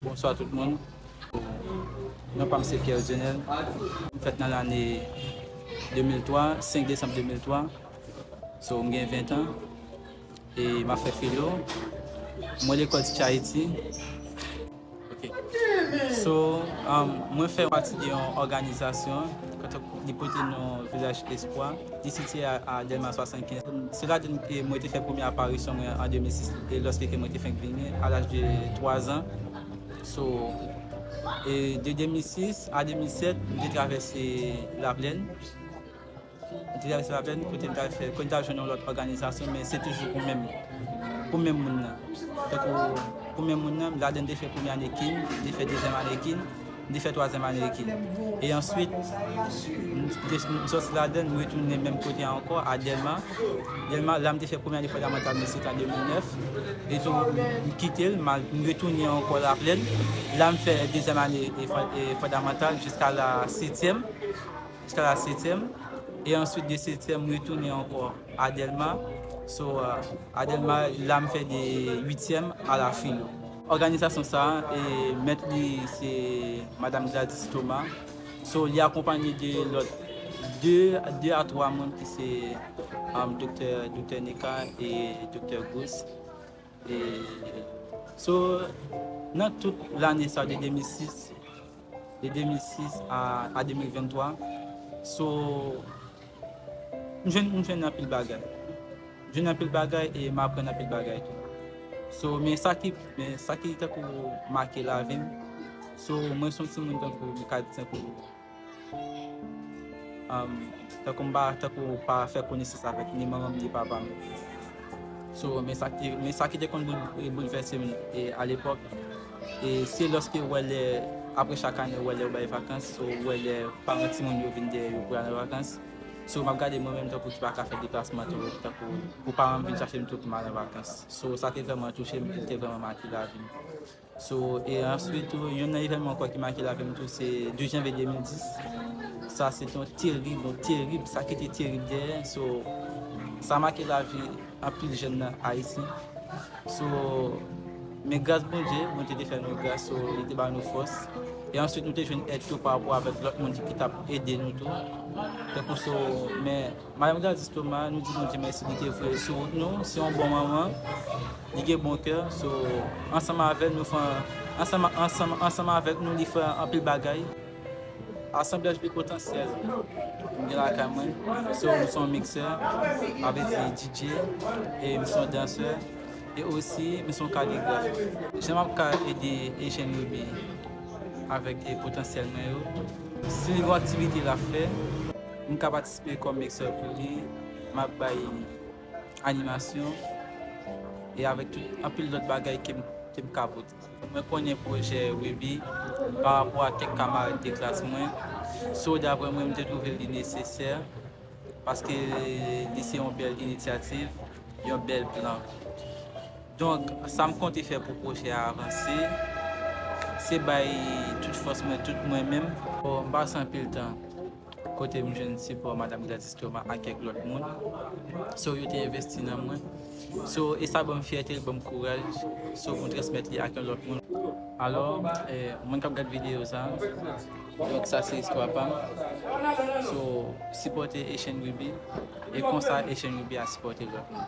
Bonswa tout moun, non pam se Pierre Dionel, m fèt nan lane 2003, 5 desanm 2003, so m gen 20 an, e m ap fè filo, mwen lekòl Teach Haiti, ok, so mwen fè pati de yon òganizasyon, li pote non Village Espoir. Li sitiye a Dèlma 75. Se la tou ke mwen te fè premye aparisyon mwen an 2006, e lòske ke mwen te fenk vini a laj de 3 zan. So, e de 2006 a 2007, m te travèse Laplèn. M te travèse Laplèn kote m t al fè, kote m t al jwenn yon lòt òganizasyon, men se toujou pou menm, pou menm moun nan. Tankou pou menm moun nan, ladan m te fè premye ane kin, m te fè dezyèm ane kin. M te fè twazyèm ane Eki. E answit, m sòti ladann, m retounen menm kote a ankò, a Dèlma. Dèlma, la m te fè premye ane fondamantal mwen, se te an 2009. E tou, m kite l, m al, m retounen ankò Laplèn. La m fè dezyèm ane fondamantal jiska la setyèm. Jiska la setyèm. E answit de setyèm, m retounen ankò a Dèlma. So, a Dèlma, la m fè de uityèm a la filo. Òganizasyon sa a, mèt li se Madam Gladys Thomas, so li akonpanye de lòt 2 a 3 moun ki se Doktè Doktè Neka e Doktè Gouss. E so nan tout lane sa de 2006 de 2006 a 2023 so. M jwenn m jwenn anpil bagay. M jwenn anpil bagay e m aprann anpil bagay tou. So men sa ki men sa ki tankou make lavi m so mwen son ti moun tankou m ka di tankou tankou m pa tankou m pa fè konesans avèk ni manman m ni papa m. So men sa ki men sa ki te konn boulvèse m e alepòk E se lòske ou wè lè apre chak ane ou wè lè yo bay vakans ou wè lè paran timoun yo vin dèyè yo pou al an vakans. So map gade mwen menm tankou ki pa ka fè deplasman twòp tankou pou paran m vin chache m tout m al an vakans. So sa te vrèman touche m e te vrèman make lavi m. So e answit tou youn nan evènman ankò ki make lavi m tou se 12 janvye 2010. Sa se te yon terib yon terib sa kite terib dèyè so sa make lavi. Anpil jèn nan Ayiti so men gras Bondye, Bondye te fè nou gras so li te ba nou fòs e answit nou te jwenn èd tou pa rapò avèk lòt moun ki tap ede nou tou tankou so men Madanm Gladys Thomas nou di Bondye mèsi li te vre sou wout nou se yon bon manman li gen bon kè so ansanm avèl nou fè ansanm avèk nou li fè anpil bagay. Asanblaj pi potansyèl m gen lakay mwen se m son miksè, sa vle di DJ e m son dansè e osi m son kaligraf. Jan m ap ka ede Ejèn Remi avèk potansyèl mwen yo? Si li gen yon aktivite l ap fè, m ka patisipe kòm miksè pou li, m ap bay animasyon e avèk tout anpil lòt bagay ke m ka pote. Mwen konnen pwojè Rubi pa rapò a kèk kamarad de klas mwen, so daprè mwen m te twouve li nesesè paske li se yon bèl inityativ, yon bèl plan. Donk sa m konte fè pou pwojè a avanse se bay tout fòs mwen, tout mwen menm. M pa san anpil tan. kote m jwenn sipò Madam Gladys Thomas ak kèk lòt moun, so yo te envesti nan mwen, so e sa ban m fyète, l ban m kouraj, so pou m transmèt li ak yon lòt moun. Alò, moun k ap gad videyo sa, donk sa se istwa pa m, so sipòte Echenn Ruby, e konsa Echenn Ruby a sipòte lòt moun.